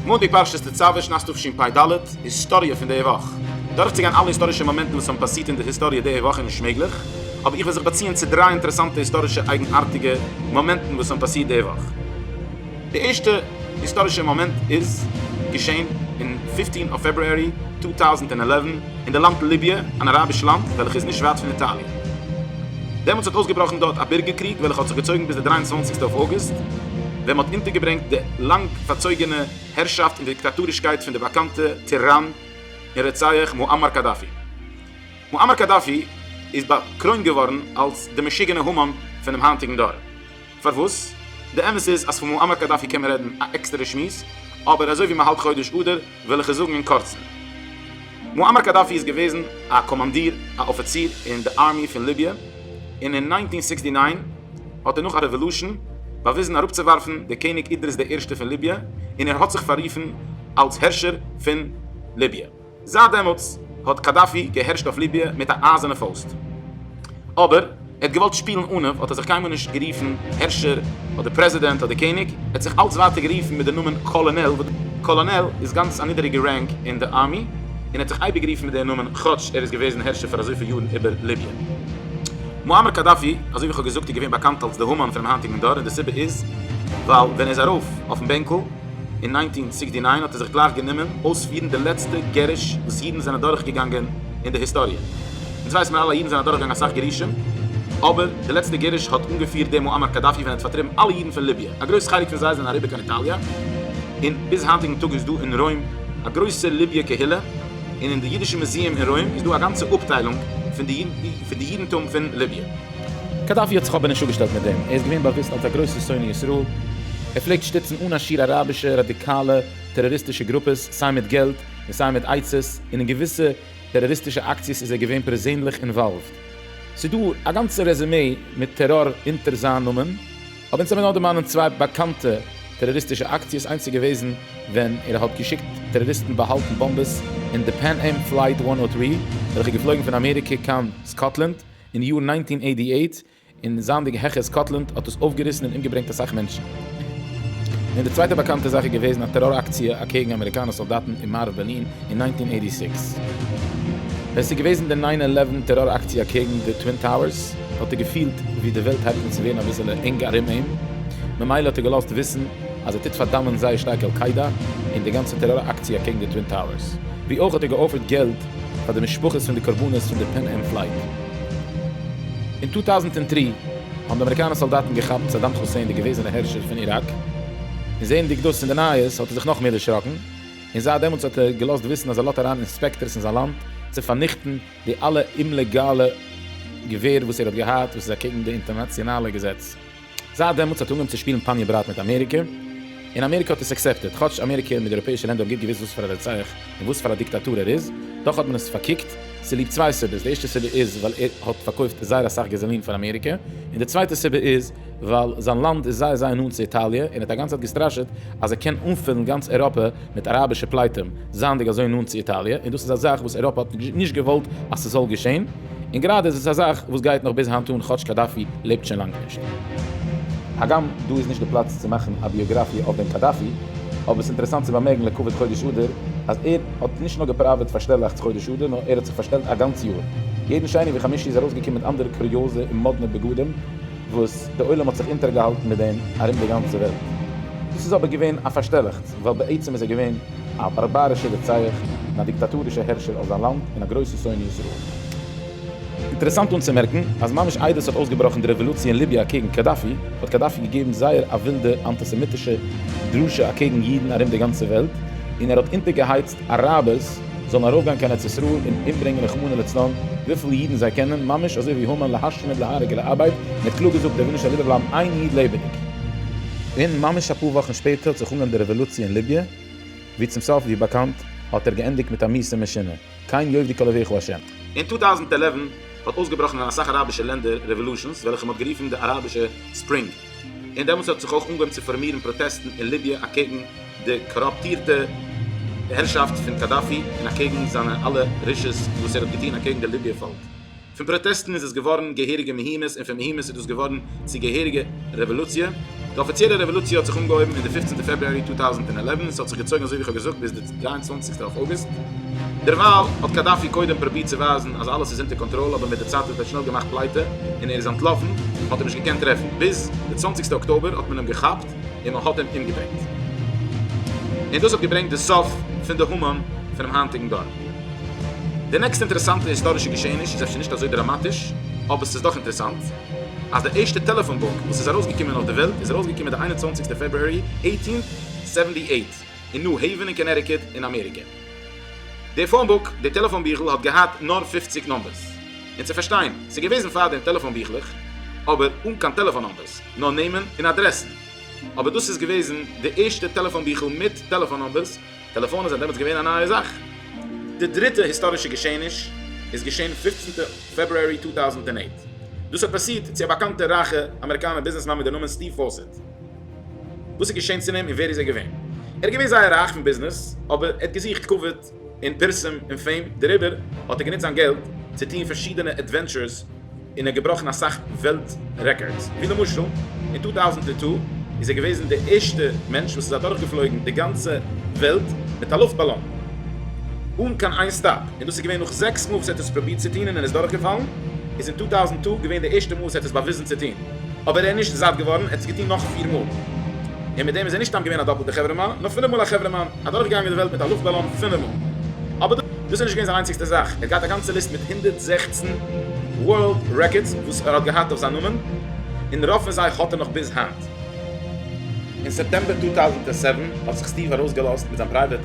מאנטאג פרשת תצוה שנת תשפ ד, היסטאריע פון די וואך. דורכצוגיין אלע היסטארישע מאמענטן וואס האבן פאסירט אין די היסטאריע די וואך איז נישט מעגליך, אבער איך וועל זיך באציען צו דריי אינטערעסאנטע היסטארישע אייגנארטיגע מאמענטן וואס האבן פאסירט די וואך. די ערשטע היסטארישע מאמענט איז געשען אין פֿופֿצן אויף פעברוארי צוויי טויזנט עלף אין די לאנד ליביע, אן אראביש לאנד וועלכע איז נישט ווייט פון איטאליע. דעמאלטס האט אויסגעבראכן דארט א בירגערקריג וועלכע האט זיך געצויגן ביז די דרײַ און צוואַנציק אויף אוגוסט, ווען מ'האט אונטערגעברענגט די לאנג פארצויגענע הערשאפט און דיקטאטורישקייט פון די באקאנטע טיראן און רוצח מואמאר קאדאפי. מואמאר קאדאפי איז באקרוינט געווארן אלס די משוגענע המון פונעם היינטיגן דור. פארוואס? די אמת איז אז פון מועמר קאדאפי קען מען רעדן א עקסטערע שמועס, אבער אזוי ווי מען האלט חודש אדר וועל איך עס זאגן אין קורצן. מועמר קאדאפי איז געוועזן א קאמאנדיר, א אפיציר, אין די ארמי פון ליביע, און אין נײַנצן הונדערט זיקס און נײַן האט ער נאך א רעוועלושען באוויזן אראפצואווארפן די קעניג אידריס די ערשטע פון ליביע, און ער האט זיך פאררופן אלס הערשער פון ליביע. זייט דעמאלטס האט קאדאפי געהערשט אויף ליביע מיט א אייזענע פויסט. אבער ער האט געוואלט שפילן אןיף האט ער זיך קיינמאל נישט גערופן הערשער אדער פרעזידענט אדער קעניג, ער האט זיך אלץ ווייטער גערופן מיט די נאמען קאלאנעל וואס קאלאנעל איז גאנץ א נידעריגע רענק אין די ארמי, און ער האט זיך אייביג גערופן מיט די נאמען כאטש ער איז געוועזן הערשער פאר אזויפיל יארן איבער ליביע. מואמער קאדאפי, אזוי ווי כ'האב געזאגט, איז געווען באקאנט אלץ די המן פונעם היינטיגן דור און די סיבה איז ווייל ווען ער איז ארויף אויפן בענקל, אין נײַנצן זיבעציק די נײַן האט ער זיך גלייך גענומען אויספירן די לעצטע גירוש וואס אידן זענען דורכגעגאנגען אין די היסטאריע. אונז ווייסן מיר אלע אז אידן זענען אדורכגעגאנגען אסאך גירושים, אבער די לעצטע גירוש האט אנגעפירט דער מועמר קאדאפי ווען ער האט פארטריבן אלע אידן פון ליביע. א גרויס חלק פון זיי זענען אריבער קיין איטאליע, און ביז היינטיגן טאג איז דא אין רוים א גרויסע ליביע קהילה, און אין די אידישע מוזיעם אין רוים איז דא א גאנצע אפטיילונג פון די אידנטום פון ליביע. קאדאפי האט זיך אבער נישט אפגעשטעלט מיט דעם, ער איז געווען באוויסט אלס א גרויסער שונא ישראל, ער פלעגט שטיצן אן א שיעור אראבישע ראדיקאלע טעראריסטישע גרופעס סיי מיט געלט און סיי מיט עצות, און אין געוויסע טעראריסטישע אקציעס איז ער געווען פערזענליך אינוואלווד. ס'איז דא א גאנצע רעזומעי מיט טעראר אונטער זיין נאמען, אבער אונז האבן נאר דערמאנען צוויי באקאנטע טעראריסטישע אקציעס, איינס איז געוועזן ווען ער האט געשיקט טעראריסטן באהאלטן באמבעס אין די פען-עם פלייט וואן נאט טרי וועלכע איז געפלויגן פון אמעריקע קיין סקאטלענד, אין יאר נײַנצן הונדערט אַכט און אַכט, און זייענדיג העכער סקאטלענד האט עס אויפגעריסן און אומגעברענגט אסאך מענטשן, און די צווייטע באקאנטע זאך איז געוועזן א טעראר אקציע אקעגן אמעריקאנע סאלדאטן אין מערב בערלין אין נײַנצן הונדערט אַכט און זעקס. ווען ס'איז געוועזן די ניין עלעווען טעראר אקציע אקעגן די טווין טאוערס האט ער געפילט ווי די וועלט הייבט אן צו ווערן אביסעלע ענג ארום אים, ממילא האט ער געלאזט וויסן אז ער טוט פארדאמען זייער שטארק על קאידא און די גאנצע טעראר אקציע אקעגן די טווין טאוערס, ווי אויך האט ער געאפערט געלט פאר די משפחות פון די קרבנות פון די פען-עם פלייט. אין צוויי טויזנט און דרײַ האבן די אמעריקאנע סאלדאטן געכאפט סאדאם כוסעין די געוועזענע הערשער פון איראק, און זעענדיג דאס אין די נייעס האט ער זיך נאך מער דערשראקן, און זייט דעמאלטס האט ער געלאזט וויסן אז ער לאדט אריין אינספעקטארס אין זיין לאנד צו פארניכטן די אלע אומלעגאלע געווער וואס ער האט געהאט וואס איז אקעגן די אינטערנאציאנאלע געזעץ. זייט דעמאלטס האט ער אנגעהויבן צו שפילן פאניע ברייט מיט אמעריקע, און אמעריקע האט עס עקסעפטעד, כאטש אמעריקע און די אייראפעאישע לענדער האבן גוט געוואוסט וואס פאר א רוצח און וואס פאר א דיקטאטור ער איז, דאך האט מען עס פארקוקט, צוליב צוויי סיבות, די ערשטע סיבה איז ווייל ער האט פארקויפט זייער אסאך געזאלין פאר אמעריקע, און די צווייטע סיבה איז ווייל זיין לאנד איז זייער זייער נאנט צו איטאליע און ער האט א גאנצע צייט געסטראשעט אז ער קען אנפילן גאנץ אייראפע מיט אראבישע פלייטים, זייענדיג אזוי נאנט צו איטאליע, און דאס איז א זאך וואס אייראפע האט נישט געוואלט אז ס'זאל געשען, און גראדע איז עס א זאך וואס גייט נאך ביז היינט אן, כאטש קאדאפי לעבט שוין לאנג נישט. הגם דא איז נישט די פלאץ צו מאכן א ביאגראפיע אויף דעם קאדאפי, אבער ס'איז אינטערעסאנט צו באמערקן לכבוד חודש אדר, אז ער האט נישט נאר געפראוועט פארשטעלאכטס חודש אדר, נאר ער האט זיך פארשטעלט א גאנץ יאר. יעדן שני וחמישי איז ארויסגעקומען מיט אנדערע קוריאזע און מאדנע בגדים, וואס די עולם האט זיך אונטערגעהאלטן מיט דעם ארום די גאנצע וועלט. דאס איז אבער געווען א פארשטעלאכטס. ווייל בעצם איז ער געווען א בארבארישער רוצח און א דיקטאטורישער הערשער אויף זיין לאנד און א גרויסער שונא ישראל. אינטערעסאנט אנצומערקן אז ממש איידער ס'האט אויסגעבראכן די רעוואלוציע אין ליביע אקעגן קאדאפי האט קאדאפי געגעבן זייער א ווילדע אנטיסעמיטישע דרשה אקעגן אידן ארום די גאנצע וועלט און ער האט אונטערגעהייצט אראבערס זאלן ארויפגיין קיין ארץ ישראל און אומברענגען רחמנא לצלן וויפיל אידן זיי קענען, ממש אזוי ווי המן להשמיד להרוג ולאבד, מען האט קלאר געזאגט ער וויל נישט אז איבערבלייבן איין איד לעבעדיג. און ממש אפאר וואכן שפעטער האט זיך אנגעהויבן די רעוואלוציע אין ליביע, ווי צום סוף ווי באקאנט האט ער געענדיגט מיט א מיסע משונה, כן יאבדו כל אויביך השם. אין טו טאוזנט עלעווען האט אויסגעבראכן אין אסאך אראבישע לענדער רעוואלושענס וועלכע מען האט גערופן די אראבישע ספרינג, און דעמאלטס האט זיך אויך אנגעהויבן צו פארמירן פראטעסטן אין ליביע אקעגן די קאראפטירטע הערשאפט פון קאדאפי און אקעגן זיינע אלע רשעות וואס ער האט געטון אקעגן די ליביער פאלק. פון פראטעסטן איז עס געווארן געהעריגע מהומות און פון מהומות איז דאס געווארן צו געהעריגע רעוואלוציע. די אפיציעלע רעוואלוציע האט זיך אנגעהויבן אין די פופצנטע פעברואר טו טויזנט עלעווען און ס'האט זיך געצויגן אזוי ווי כ'האב געזאגט ביז די דרײַ און צוואַנציק טער אויגוסט. דערווייל האט קאדאפי קודם פרובירט צו ווייזן אז אלעס איז אונטער קאנטראל אבער מיט די צייט האט ער שנעל געמאכט פלייטע און ער איז אנטלאפן, מען האט אים נישט געקענט טרעפן ביז די צוואנציגסטע אקטאבער האט מען אים געכאפט און מען האט אים אומגעברענגט. און דאס האט געברענגט די סוף פון די המון פונעם היינטיגן דור. די נעקסטע אינטערעסאנטע היסטארישע געשעעניש איז אפשר נישט אזוי דראמאטיש אבער ס'איז דאך אינטערעסאנט אז די ערשטע טעלעפאן בוק וואס איז ארויסגעקומען אויף די וועלט איז ארויסגעקומען די איין און צוואנציגסטע פעברוארי עיטין סעווענטי עיט. אין ניו העווען אין קאנעטיקוט אין אמעריקע. די פאון בוק, די טעלעפאן ביכל, האט געהאט נאר פֿופֿציק נומבערס. און צו פארשטיין, ס'איז געוועזן פארדעם טעלעפאן ביכלעך, אבער אן קיין טעלעפאן נומבערס, נאר נעמען און אדרעסן. אבער דאס איז געוועזן די ערשטע טעלעפאן ביכל מיט טעלעפאן נומבערס, טעלעפאנען זענען דעמאלטס געווען א נייע זאך. די דריטע היסטארישע געשעעניש איז געשען פֿופֿצנטע פעברוארי צוויי טויזנט אַכט. דאס האט פאסירט צו א באקאנטע רייכע אמעריקאנער ביזנעסמאן מיט די נאמען סטיוו פאסעט. וואס איז געשען צו אים און ווער איז ער געווען? ער איז געווען זייער רייך אין ביזנעס, אבער ער האט געזוכט כבוד און פרסום און פעים, דעריבער האט ער גענוצט זיין געלט צו טון פארשידענע עדווענטשורס און ער האט געבראכן אסאך וועלט רעקארדס, ווי למשל אין טו טויזנט טו איז ער געוועזן די ערשטע מענטש וואס איז אדורכגעפלויגן די גאנצע וועלט מיט א לופט באלון אן קיין איין סטאפ, און דאס איז געווען נאך זעקס מאל וואס ער האט עס פרובירט צו טון און ער איז דורכגעפאלן, איז אין טו טויזנט טו געווען די ערשטע מאל וואס ער האט עס באוויזן צו טון. אבער ער איז נישט זאט געווארן, ער האט עס געטון נאך פיר מאל, און מיט דעם איז ער נישט סתם געווען א דאפלטע חברה מאן, נאר פינף מאל א חברה מאן, אדורך געגאנגען די וועלט מיט א לופט באלאן פינף מאל. אבער דאס איז נישט געווען זיין איינציגסטע זאך, ער האט געהאט א גאנצע ליסט מיט הונדערט זעכצן ווארלד רעקארדס וואס ער האט געהאט אויף זיין נאמען, און רוב פון זיי האט ער נאך ביז היינט. אין סעפטעמבער צוויי טויזנט זיבן האט זיך סטיוו ארויסגעלאזט מיט זיין פרייוועט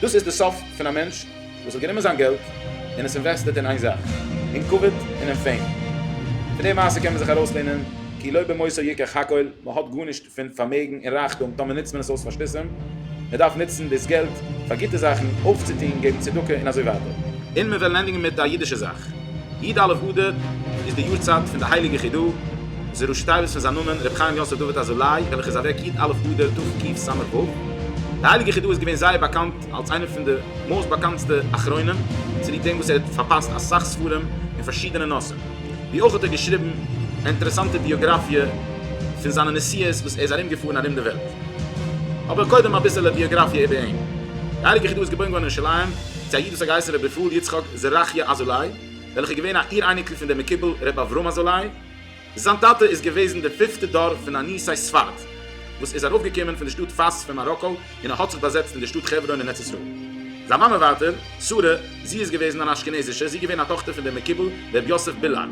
דאס איז די סוף פון א מענטש וואס האט גענומען זיין געלט און עס אינוועסטעט אין איין זאך, אין כבוד און אין פעים. פון די מעשה קען מען זיך ארויסלערנען כי לא במוסר ייקח הכל, מען האט גארנישט פון פארמעגן און רייכטום טאמער נוצט מען עס אויס פאר שטותים, מען דארף נוצן דאס געלט פאר גוטע זאכן, אויפצוטון, געבן צדקה און אזוי ווייטער. און מען וועל ענדיגן מיט א אידישע זאך. י ד אלף אדר איז די יארצייט פון די הייליגע חידא זי ע ראש שטייער וואס פון זיין נאמען ר' חיים יוסף דוד אזולאי וועלכע איז אוועק י ד אלף אדר תשכ ג ס ו. די הייליגע חידא איז געווען זייער באקאנט אלס איינער פון די מאסט באקאנטסטע אחרונים צוליב דעם וואס ער האט פארפאסט אסאך ספרים אין פארשידענע נושאים ווי אויך האט ער געשריבן אינטערעסאנטע ביאגראפיע פון זיינע נסיעות וואס ער איז ארום געפארן ארום די וועלט. אבער קודם אביסעלע ביאגראפיע איבער אים. די הייליגע חידא איז געבוירן געווארן אין ירושלים צו א איד וואס האט געהייסן ר' אפרים יצחק זרחיה אזולאי, וועלכע איז געווען א איר אייניקל פון דער מקובל ר' אברהם אזולאי. זיין טאטע איז געוועזן דער פיפטע דור פון א ניסי ספרד, וואס איז ארויפגעקומען פון דער שטאט פאס פון מאראקא און א האט זיך באזעצט אין דער שטאט חברון אין ארץ ישראל. זיין מאמע ווייטער, שרה, זי איז געוועזן אן אשכנזישע, זי געווען א טאכטער פון דער מקובל ר' יוסף בילאר,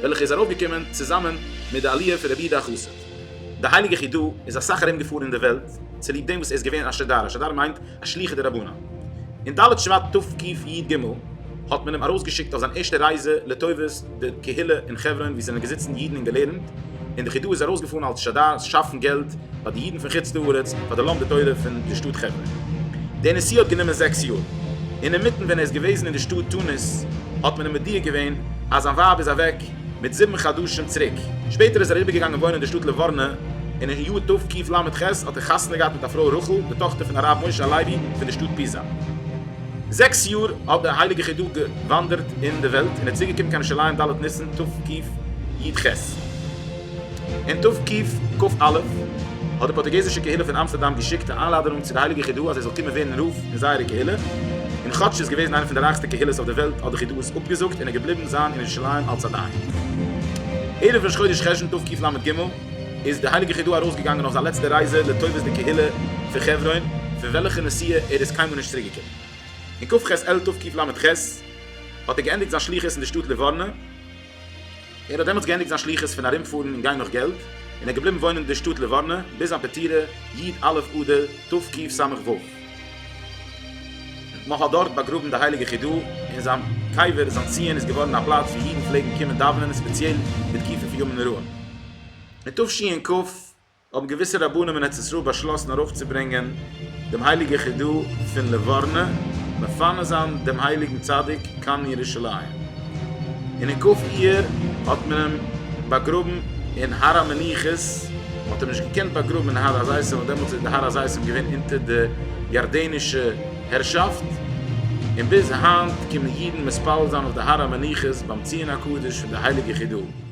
וועלכע איז ארויפגעקומען צוזאמען מיט די עליה פון רבי איד החסיד. די הייליגע חידא איז אסאך ארום געפארן אין די וועלט צוליב דעם וואס ער איז געווען א שדר, א שדר מיינט א שליחה דרבנן. אין ד' שבט תק י י ג האט מען אים ארויסגעשיקט אויף זיין ערשטע רייזע לטובת די קהילה אין חברון ווי ס'זענען געזיצן אידן און געלערנט, און די חידא איז ארויסגעפארן אלס שדר שאפן געלט פאר די אידן פון חוץ לארץ פאר די לומדי תורה פון די שטאט חברון. די נסיעה האט גענומען זעקס יאר. אינמיטן ווען ער איז געוועזן אין די שטאט תוניס האט מען אים מודיע געווען אז זיין ווייב איז אוועק, מיט זיבן חדשים צוריק. שפעטער איז ער אריבערגעגאנגען וואוינען אין די שטאט ליווארנע, און אין יאר תקכ ל האט ער חתונה געהאט מיט א פרוי רחל, די טאכטער פון הרב משה הלוי פון די שטאט פיזא. זעקס יאר האט דער הייליגער חידא געוואנדערט אין די וועלט, און איז צוריקגעקומען קיין ירושלים ד' ניסן תקכ י. אין תוו ק ק א האט די פארטוגעזישע קהילה פון אמסטערדאם געשיקט א איינלאדענונג צו די הייליגע חידא אז ער זאל קומען ווערן רב אין זייערע קהילה, און כאטש ס'איז געוועזן איינע פון די רייכסטע קהילות אויף דער וועלט האט די חידא עס אפגעזאגט און ער געבליבן זיין אין ירושלים אלס א דיין. ערב ראש חודש חשון תוו ק ל ג איז די הייליגע חידא ארויסגעגאנגען אויף זיין לעצטע רייזע לטובת די קהילה פון חברון פון וועלכע נסיעה ער איז קיינמאל נישט צוריקגעקומען. אין כ ח אלול תוו ק ל ח האט ער געענדיגט זיין שליחות אין די שטאט ליווארנע, ער האט דעמאלטס געענדיגט זיין שליחות פון ארומפארן און גיין נאך געלט, און ער איז געבליבן וואוינען אין די שטאט ליווארנע ביז זיין פטירה י ט א' אדר תרפ ק סמ ו. מען האט דארט באגראבן די הייליגע חידו ת, און זיין קבר זיין ציון איז געווארן א פלאץ וואו אידן פלעגן קומען דאווענען און ספעציעל בתקופת ימים נוראים אין תשי ע ק האבן געוויסע רבנים אין ארץ ישראל באשלאסן ארויפצוברענגען דעם הייליגער חידו פון ליווארנע, מפנה זיין דעם הייליגן צדיק קיין ירושלים, און אין כ' אייר האט מען אים באגראבן אין הר המנוחות, מען האט אים נישט געקענט באגראבן אין הר הזיתים ווייל דעמאלטס איז די הר הזיתים געווען אונטער די ירדנישע הערשאפט, און ביז היינט קומען אידן מתפלל זיין אויף די הר המנוחות ביים ציון הקדוש פון די הייליגע חידו.